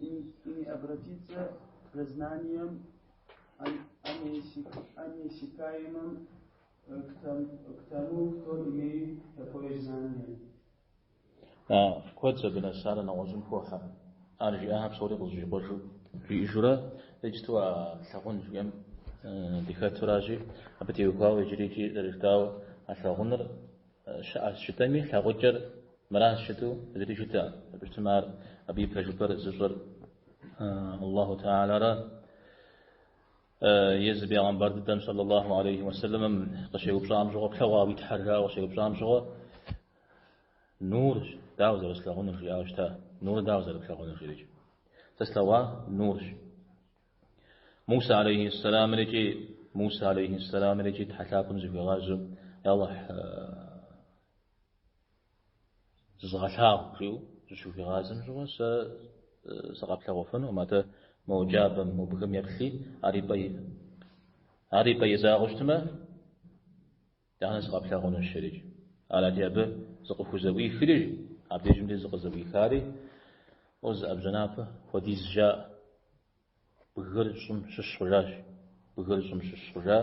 и не обратиться за знанием о неиссякаемом к тому, кто имеет такое знание. Куэд здынэсара нэгъуэщӏым хохьэ. Ар жиӏахэр псори къызэщӏикъуэжу жиӏэжурэ иджыту а лъагъун жиӏэм дыхэтуращи, абы теухуауэ иджыри икӏи зэрыжытауэ а лъагъуныр щыӏэщ жытӏэми, лъагъукӏэр мыращ жытӏу зыри жытӏэ. Абы щытмэ ар абы и пэжыпӏэр зыщӏыр Аллаху Тэхьэлара езы бегъэмбар дыдэм саллаллаху алейхи уэсэлэмым къыщеупщӏам щыгъуэ, плъэгъуа уи тхьэр жауэ къыщеупщӏам щыгъуэ нурщ дауэ зэрыслъагъунур жиӏауэ щыта. Нур дауэ зэрыплъагъунур жерикӏ. Сэ слъэгъуа нурщ. Муса алейхи сэлам икӏи Муса алейхи сэлам икӏи Тхьэ лъапӏэм зыхуигъазэу Я Аллахь зызгъэлъагъу жиӏэу зыщыхуигъазэм щыгъуэ сэ сыкъэплъэгъуфынукъым атэ мо джабэм мо бгым еплъи ар и пӏэ и ар и пӏэ изагъэу щытмэ Итӏанэ сыкъэплъэгъунущ жерикӏ? Арати, абы зыкъыхузэӏуихри, абдежымкӏэ зыкъызэӏуихари, О, зы ӏэбжьэнапэ хуэдиз жаӏэ бгыр щӏым щыщ хъужащ, бгыр щӏым щыщ хъужа.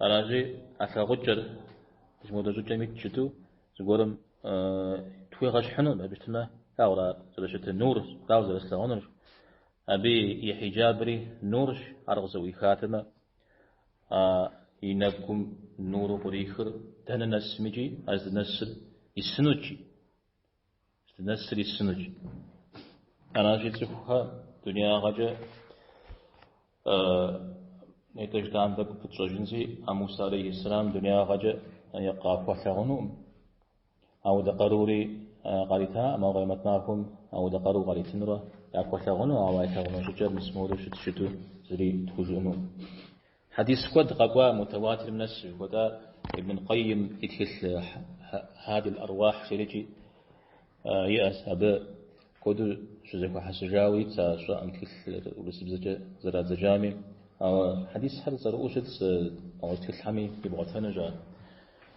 Аращи, а лъагъукӏэр зымодэ щӏыкӏэм итщ жытӏу зыгуэрым тхуегъэщхьыну, абы щытмэ, аура зэрыщытыр, нур, дауэ зэрыслъэгъунур, Абы и хьиджабри нурщ, ар къызэӏуихатэмэ, а и нэгум нуру кърихыр дэнэ нэсмыкӏи, ар здынэсыр исынукӏи, здынэсыр исынукӏи. Аращи, цӏыхухэ дунеягъэкӏэ нетӏэ жытӏам къыпытщэжынзи, а Муса алейхиссалам дунеягъэкӏэ къахуэлъагъунукъым. Ауэдэ къарури къаритаӏым, ауэ Къемэт махуэм ауэдэ къару къаритынурэ яхуэлъэгъуну, ауэ ялъэгъуну щӏыкӏэр мысмору щытщ жытӏу зыри тхужыӏэнуӏым. Хьэдис куэд къэкӏуа мутаватирым нэс жыхуэтӏа Ибн Къэййым и тхылъ Хьадил Ӏэруахь жерикӏи иӏэщ, абы куэду щызэхуэхьэсыжауэ итщ а щӏыӏэм тхылъыр урысыбзэкӏэ зэрадзэжами, ауэ хьэдисхэр цӏэрыӏуэу щытщ, ауэ тхылъхэми ибгъуэтэнущ ар.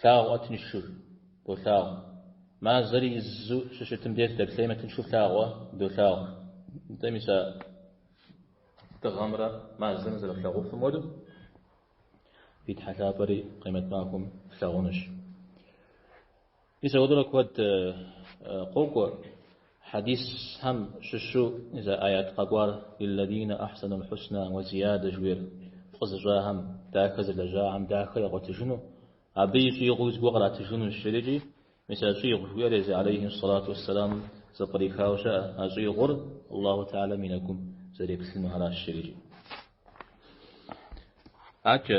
Плъагъуӏэ тыншу, долъагъу. Мазэр изу щыщытым деж дэплъеймэ, тыншу плъагъуӏэ, долъагъу. Нтӏэ мис а дыгъэмрэ мазэмрэ зэрыплъагъуфым хуэдэу, фи Тхьэ лъапӏэри Къемэт махуэм флъагъунущ. Мис апхуэдэурэ куэд къокӏуэ хьэдисхэм щыщу зы аят къэкӏуар Лиллазина ахьсанул хьусна уэ зиядэ жыхуиӏэр фӏы зыщӏахэм, дахэ зылэжьахэм дахэ ягъуэтыжыну, абы и щӏигъуи зыгуэр къратыжынущ жиӏэрикӏи, мис а щӏигъу жыхуиӏэр езы алейхьи сэлату уэссэламым зэпкърихауэ щыӏэ, а щӏигъур Аллаху Теалэм и нэгум зэреплъыну аращ жиӏэрикӏи. Акӏэ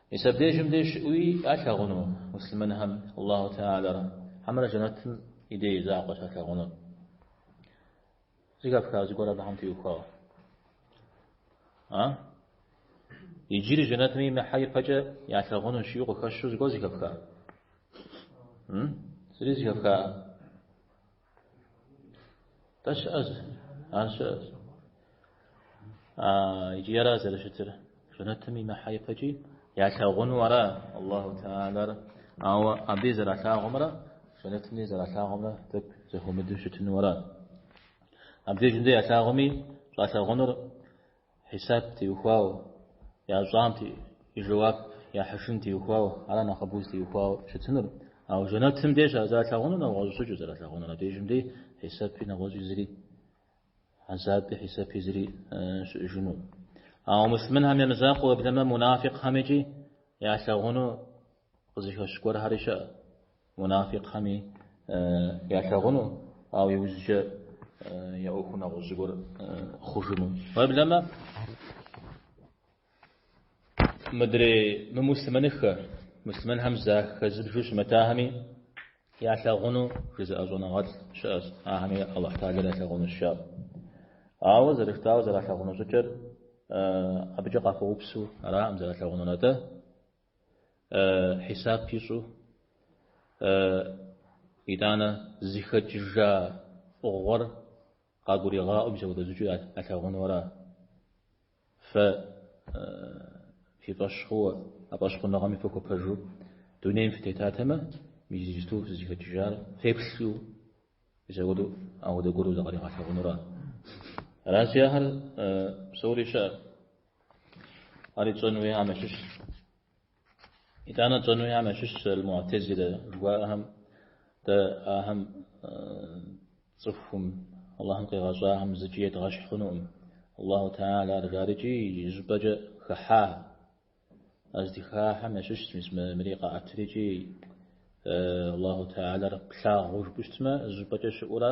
Мис абдежым деж щыӏуи ялъагъуну муслъымэнхэм Аллаху Теалэр хьэмэрэ жэнэтым и дей и закъуэ щалъагъунур? Зыхэфха зыгуэр абыхэм теухуауэ. А? Иджыри жэнэтым имыхьэ ипэкӏэ ялъагъунущ жиӏэу къыхэщу зыгуэр зыхэфха. М? Зыри зыхэфха. Тэ щыӏэщ, ар щыӏэщ. А икӏи ара зэрыщытыр? Жэнэтым имыхьэ ипэкӏи ялъагъуну ара Аллаху Теалэр? Ауэ абы зэралъагъумрэ жэнэтым дей зэралъагъумрэ тӏэкӏу зэхуэмыдэу щытыну ара? Абдежым дей ялъагъуми щӏалъагъунур Хьисап теухуауэ, ящӏам и жэуап яхьыжын теухуауэ, ара нэхъыбэу зытеухуауэ щытынур. Ауэ жэнэтым деж ар зэралъагъунур нэгъуэщӏ щӏыкӏэу зэралъагъунур, абдежым дей хьисапи нэгъуэщӏи зыри, азаби хьисапи зыри щыӏэжыну. Ауэ муслъымэнхэм я мызакъуэ уеблэмэ, мунафикъхэм икӏи ялъагъуну Къызыхэщ гуэрхэри щыӏэ, мунафикъхэми ялъагъуну, ауэ иужькӏэ я ӏуэхур нэгъуэщӏ зыгуэр хъужыну. Уеблэмэ, мыдрей мымуслъымэныххэ, муслъымэнхэм захэзыбжу щымытахэми ялъагъуну жызыӏэ щӏэныгъэлӏ щыӏэщ, ахэми Аллаху Теалэр ялъагъунущ жаӏэу. Ауэ зэрыжытауэ зэралъагъуну щӏыкӏэр абыкӏэ къахуэупсу араӏым, зэралъагъунур атӏэ. Хьисап ищӏу, итӏанэ зыхэкӏыжа фӏыгъуэр къагуригъаӏуэ мис апхуэдэ щӏыкӏэу ялъагъуну ара? Фэ фи фӏэщ хъууэ, а фӏэщхъуныгъэми фыхуэпэжу дунейм фытетатэмэ, мис иджыпсту фызыхэкӏыжар феплъу, мис апхуэдэу апхуэдэ гуэру закъригъэлъагъуну ара? Аращи, ахэр псори щыӏэ. Ари тщӏэн хуейхэм ящыщ. Итӏанэ тщӏэн хуейхэм ящыщ аль-муатезилэ жыхуаӏэхэм дэ ахэм цӏыхум Аллахым къигъэщӏахэм зыкӏи едгъэщхь хъунукъым. Аллаху Теалэр жаӏэрикӏи зыщӏыпӏэкӏэ хыхьа. А здыхахьэм ящыщ мис мыри къаӏэтрикӏи Аллаху Теалэр плъагъуу жыпӏэу щытмэ, зыщӏыпӏэкӏэ щыӏэу ара?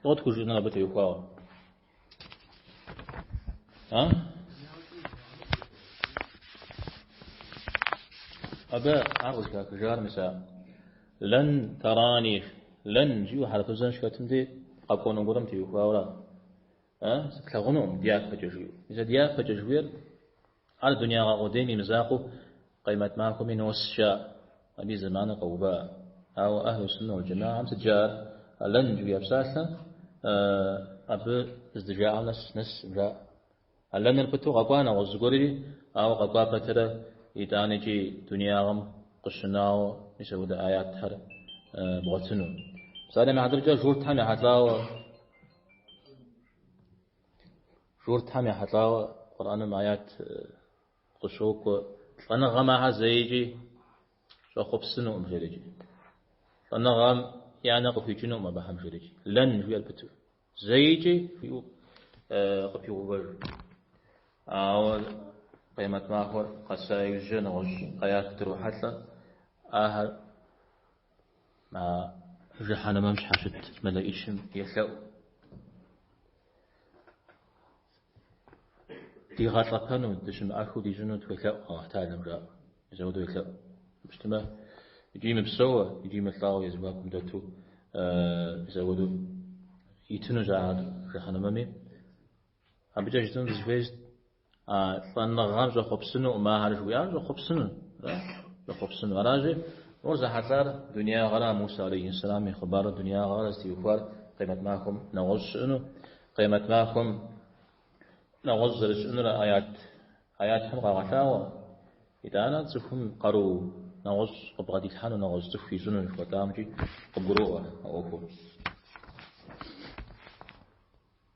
Фӏыуэ тхужыӏэныр абы теухуауэ. А? Абы ар къызыхахыжар мис а лэн тарани, лэн жиӏэу хьэрфызэн щхэтым де къэкӏуэну гуэрым теухуауэ. А? Сыплъагъунукъым дяпэкӏэ жиӏэу. Мис а дяпэкӏэ жыхуейр Ар дунягъэ къудейм и мызакъуэу Къиэмэт махуэми нос жаӏэ, абы и зэманыр къэува. Ауэ Ахьлу Суннэ уал Джэмагъэм сыт жаӏэр, а лэн жыхуиӏэ псалъэ абы здыжаӏэм нэс нэс жаӏэ. А лэныр пыту къэкӏуа нэгъуэщӏ зыгуэрри, ауэ къэкӏуа пэтрэ итӏанэкӏи дунягъэм къыщынауэ мис апхуэдэ аятхэр бгъуэтыну. Псалъэм и хьэтыркӏэ журтхэм ехьэлӏауэ Журтхэм ехьэлӏауэ Къурӏэным аят къыщокӏуэ, лӏэныгъэм ахэр зэикӏи щӏэхъуэпсынукъым жэрыкӏи. Лӏэныгъэм я нэ къыхуикӏынукъым абыхэм жэрыкӏи. Лэн жиӏэр пыту. Зэикӏи жиӏэу къыпигъэувэж. Ауэ Къиэмэт махуэр къэса иужькӏэ нэгъуэщӏ аят дрохьэлӏэ, ахэр а жыхьэнэмэм щхьэщыт мэлэӏычым елъэӏу. Дигъэлӏэпэну, дыщымыӏэхыу дищӏыну тхуелъэӏу, Алыхьталэм жаӏэу. Мис ахуэдэу елъэӏу. Мыщтэмэ, икӏи мыпсэууэ, икӏи мылӏауэ я зэхуакум дэту мис ахуэдэу итыну жаӏэ жыхьэнэмэми. Абыкӏэ щытыну дызыхуейщ А лӏэныгъэм щӏэхъуэпсынукъым ахэр жыхуиӏар, щӏэхъуэпсыну, ара? Щӏэхъуэпсыну. Аращи, ӏуэхур зэхьэлӏар дунягъэра, а Мусэ алейхьиссэлам и хъыбарыр дунягъэра зытеухуар къиэмэт махуэм нэгъуэщӏ щыӏэну, къиэмэт махуэм нэгъуэщӏ зэрыщыӏэнур аят, аятхэм къагъэлъагъуэ. Итӏанэ цӏыхум къару нэгъуэщӏ къыбгъэдилъхьэну, нэгъуэщӏ цӏыху ищӏыну жыхуэтӏамкӏи къыбгуроӏуэ а ӏуэхур.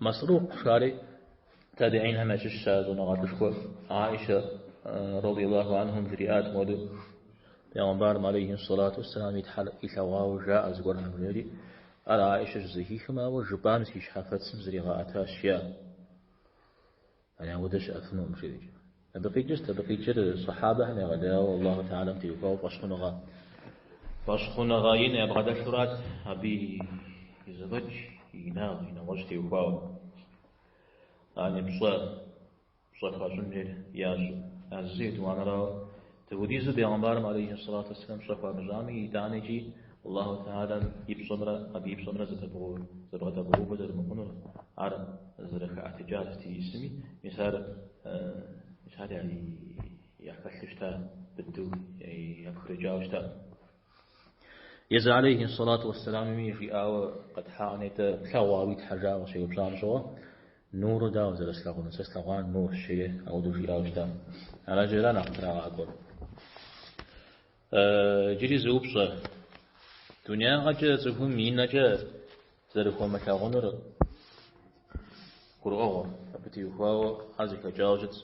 Масрук жари табигъинхэм ящыщщ а щӏэныгъэлӏышхуэр. Аишэ радиаллаху анхам жриӏат мохуэдэу, Пегъэмбарым алейхи сэлату уссэлам и Тхьэр илъэгъуауэ жаӏэ зыгуэрхэм жери, ар Аишэ щызэхихым, а уэ жыпӏам си щхьэфэцым зригъэӏэтащ, жаӏэ. Яни ауэдэ щыӏэфынукъым жери. Абы къикӏырт, абы къикӏыр сахьабэхэм егъэлеяуэ Аллаху тэгъалэм теухуауэ фӏэщхъуныгъэ. Фӏэщхъуныгъэ ин ябгъэдэлъурат абы и зэфӏэкӏ, и инагъ, и нэгъуэщӏ теухуауэ. Яни пщӏэ пщӏэ хуащӏынхэр ящӏу, а зы етӏуанэрауэ. Дауэдизу бегъымбарым алейхи ссалату уэсселам пщӏэ хуамыщӏами, итӏанэкӏи Аллаху тэгъалэм и пщӏэмрэ абы и пщӏэмрэ зэбгъэдэбгъэувэ зэрымыхъунур ар зэрыхэӏэтыкӏар сыт ищӏысми, мис ар ар яхэлъу щыта, быдэу япхрыкӏауэ щыта. Езы алейхи ссалату уэсселамми жиӏауэ къэтхьаӏэ нтӏэ, плъэгъуа уи Тхьэ жаӏэу къыщеупщӏам щыгъуэ, Нурыр дауэ зэрыслъагъунур? Сэ слъэгъуар нурщ, жери ауэдэу жиӏауэ щыта. Аращи ара нэхъ трагъакӏуэр? Иджыри зы упщӏэ. Дунягъэкӏэ цӏыхум и нэкӏэ зэрыхуэмылъагъунур гурыӏуэгъуэ, абы теухуауэ хьэр зэхэкӏауэ щытщ.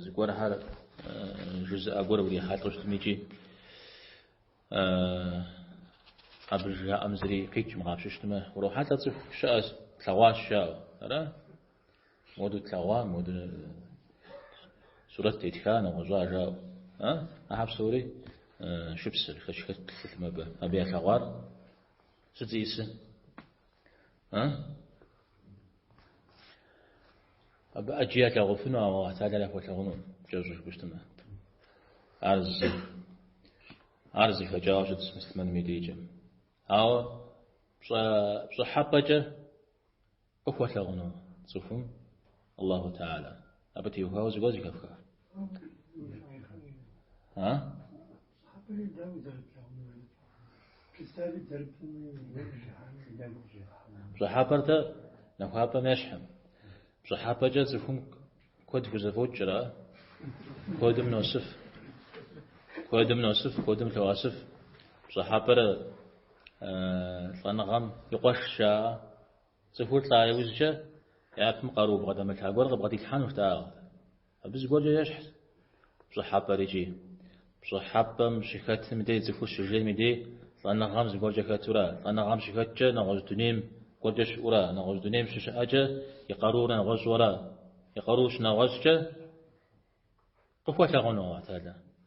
Зыгуэрхэр жызыӏэ гуэр урихьэлӏэу щытмикӏи абы жаӏэм зыри къикӏым къапщыщтмэ, урохьэлӏэ цӏыху щыӏэ тлъэгъуащ жаӏэу. Ара? Моду тлъэгъуа, моду сурэт тетха, нэгъуэщӏа жаӏэу. А? Ахьэр псори шыпсэщ, шэч хэлъым абы. Абы ялъэгъуар сыт зищӏысыр? А? Абы ӏэджи ялъагъуфыну, ауэ Аллаху Теалэр яхуэлъагъуну кӏэщӏу жыпӏэщтмэ. Ар зы, ар зэхэкӏауэ щытщ муслъымэным и дейкӏэм. Ауэ пщӏэ, пщӏыхьэпӏэкӏэ къыхуэлъагъуну цӏыхум Аллаху Теала. Абы теухуауэ зыгуэр зэхэфха. А? Пщӏыхьэпӏэр тӏэ нахуапӏэм ещхьым. Пщӏыхьэпӏэкӏэ цӏыхум куэд хузэфӏокӏрэ, куэдым носыф. Куэдым носыф, куэдым лъоӏэсыф. Пщӏыхьэпӏэр э, лӏэныгъэм и къуэш жаӏэ. Цӏыхур лӏа иужькӏэ япэм къару бгъэдэмылъа гуэр къыбгъэдилъхьэнущ дагъэ. Абы зыгуэркӏэ ещхь пщӏыхьэпӏэр икӏи. Пщӏыхьэпӏэм щыхэтым дей цӏыхур щыжейм и дей лӏэныгъэм зыгуэркӏэ хэту ара, лӏэныгъэм щыхэткӏэ нэгъуэщӏ дунейм гуэркӏэ щыӏэу ара, нэгъуэщӏ дунейм щыщыӏэкӏэ и къаруур нэгъуэщӏу ара, и къаруур щынэгъуэщӏкӏэ къыхуэлъагъуну Аллаху Теала.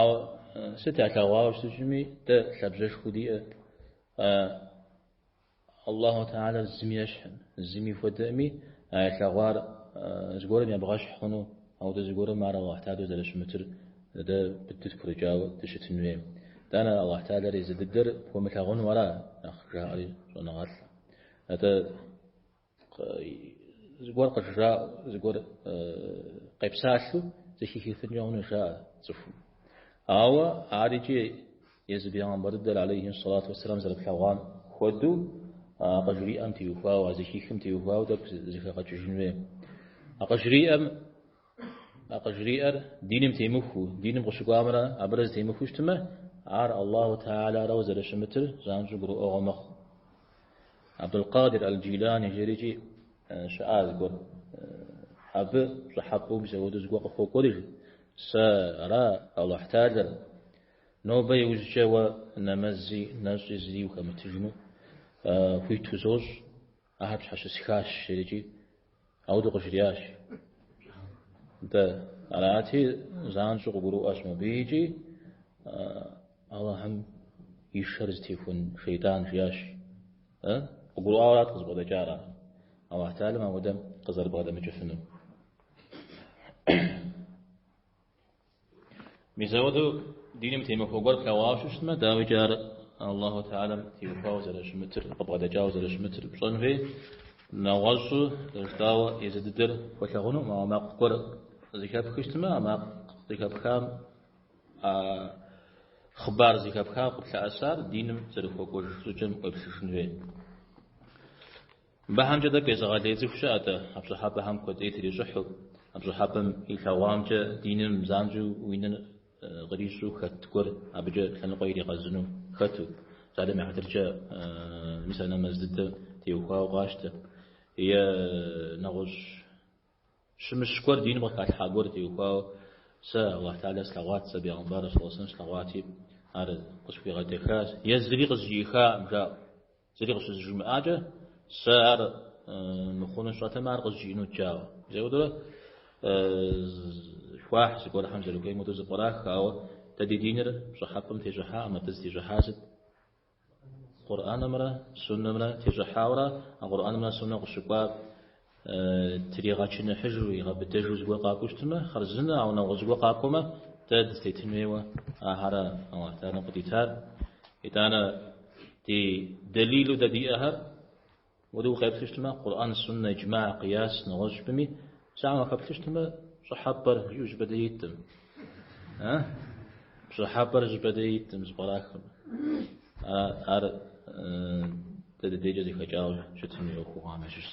Ауэ сыт ялъэгъуауэ щытыжми, дэ лъабжьэшхуэ диӏэ. Аллаху Теала зыми ещхьым, зыми хуэдэми а ялъэгъуар зыгуэрым ебгъэщхь хъуну, ауэдэ зыгуэрым ар Аллаху Теалэу зэрыщымытыр дэ быдэу дгурыӏуауэ дыщытын хуейм. Дэнэ Аллаху Теалэр езы дыдэр пхуэмылъагъуну ара нэхъ жаӏэри щӏэныгъэлӏэ. Атӏэ Зыгуэр къыжраӏэу, зыгуэр къепсалъэу зэхихыфынкӏэ хъуну жаӏэ цӏыхум. Ауэ ар икӏи езы бегъымбар дыдэр алейхи сэлату уэсселам зэрыплъэгъуам хуэдэу а къыжриӏэм теухуауэ, а зэхихым теухуауэ тӏэкӏу зэхэгъэкӏыжын хуей. А къыжриӏэм А къыжриӏэр диным темыхуу, диным къыщыкӏуамрэ абырэ зытемыхуу щытмэ, ар Аллаху Теалэ арауэ зэрыщымытыр занщӏэу гурыӏуэгъуэ мэхъу. Абдул-Къадир Эл-Джилани жаӏэрикӏи щыӏа зыгуэр. Абы пщӏыхьэпӏэу мис ауэдэу зыгуэр къыхуокӏуэри, жи, Сэ ара, Аллаху Теалэр, нобэ иужькӏэ уэ нэмэзи нэщӏи зыри ухэмытыжыну хуиту сощӏ. Ахэр пщхьэщысхащ, жиӏэрикӏи, ауэдэу къыжриӏащ. Дэ арати, занщӏэу къыгурыӏуащ мыбы икӏи Аллахьым и шэр зытехуэн шейтӏан жиӏащ. Къыгурыӏуауэ арат къызыбгъэдэкӏар ар. Аллахь Теалэм ауэдэ къызэрыбгъэдэмыкӏыфыну. Мис ауэдэу диным темыхуэ гуэр плъэгъуауэ щытмэ, дауикӏи ар Аллаху Теалэм теухуауэ зэрыщымытыр, къыбгъэдэкӏауэ зэрыщымытыр пщӏэн хуей, нэгъуэщӏу, къищтауэ езы дыдэр пхуэлъэгъунукъым, ауэ макъ гуэр зыхэпхыу щытмэ, а макъ зыхэпхам, а хъыбар зыхэпхам къыплъэӏэсар диным зэрыхуэкӏуэж щӏыкӏэм уегупсысын хуей. Абыхэмкӏэ тӏэкӏу езыгъэлей цӏыху щыӏэ-тӏэ, а пщӏыхьэпӏэхэм куэд ӏей трищӏыхьу, а пщӏыхьэпӏэм илъэгъуамкӏэ диным занщӏэу уи нэр кърищӏу хэт гуэр абыкӏэ лъэныкъуэ иригъэзыну хэту, псалъэм и хьэтыркӏэ мис а нэмэз дыдэр теухуауэ къащтэ, е нэгъуэщӏ щымыщ гуэр, диным къыхалъхьа гуэр теухуауэ, сэ Аллахь Теалэ слъэгъуат, сэ Бегъымбар, сэллэллаху алейхи уэ сэллэм, слъэгъуати, ар къысхуигъэдэхащ, зыри къызжиӏыххакъым, жаӏэу. Зыри къыщызжимыӏакӏэ, сэ ар мыхъуну сщӏэтэмэ, ар къызжиӏэнут, жаӏэу. Мис ауэдэурэ хуахь зыгуэрхэм зэрыхуейм хуэдэу зэпкърах, ауэ дэ ди диныр пщӏыхьэпӏэм тещӏыхьакъым, атӏэ зытещӏыхьар сыт? Къурӏэнымрэ Суннэмрэ тещӏыхьауэ ара, а Къурӏэнымрэ Суннэм къыщыкӏуар Тригъэчыныхьыжу, игъэбыдэжу зыгуэр къакӏуэу щытмэ, хъарзынэ, ауэ нэгъуэщӏ зыгуэр къакӏуэмэ, дэ дызытетын хуейуэ ахэр ара, Аллахь Теалэм къыдитар. Итӏанэ ди дэлилу дэ диӏэхэр уэри укъеплъу щытмэ, Къурӏэн, Суннэ, Иджмаӏ, Къияс, нэгъуэщӏ щӏыпӏэми, псалъэм уахэплъу щытмэ, пщӏыхьэпӏэр жиӏэу зыщӏыпӏэ дей иткъым. Пщӏыхьэпӏэр зыщӏыпӏэ дей иткъым, зэпкърахмэ. Ар дэ ди дейкӏэ зэхэкӏауэ щытын хуей ӏуэхугъуэхэм ящыщщ.